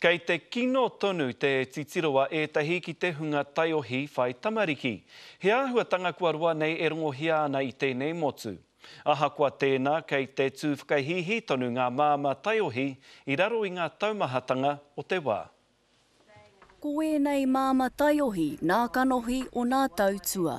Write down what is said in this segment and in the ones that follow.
Kei te kino tonu te titiro a ētahi ki te hunga taiohi whai tamariki. He āhuatanga kua roa nei e rongohia ana i tēnei motu. Ahakoa tēnā, kei te tū whakahīhī tonu ngā māmā taiohi i raro i ngā taumahatanga o te wā. Ko ēnei māmā taiohi nā kanohi o nā tau tua.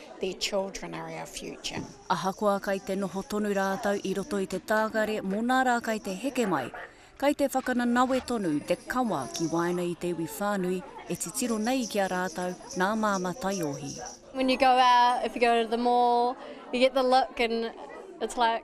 Their children are our future. Ahakoa kai te noho tonu rātou i roto i te tākare mō nā rā kai te heke mai, kai te whakananawe tonu te kawa ki waena i te iwi whānui e titiro nei ki a rātou nā Māmā Taiohi. When you go out, if you go to the mall, you get the look and it's like,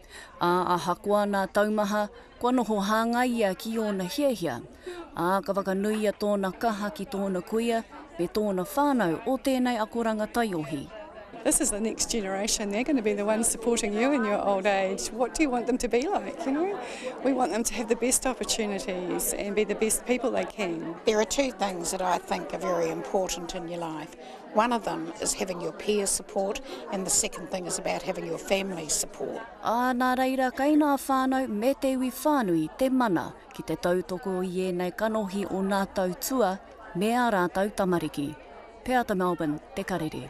Ā, ahakoa nā taumaha, kua noho hāngai ia ki ōna hiahia, ā, ka whakanuia tōna kaha ki tōna kuia me tōna whānau o tēnei akoranga taiohi. This is the next generation, they're going to be the ones supporting you in your old age, what do you want them to be like, you know? We want them to have the best opportunities and be the best people they can. There are two things that I think are very important in your life. One of them is having your peer support and the second thing is about having your family support. Ā, nā reira kei ngā whānau me te iwi whānui te mana ki te tautoko i ēnei kanohi o nā tautua me ā rātou tamariki. Peata Melbourne, Te Karere.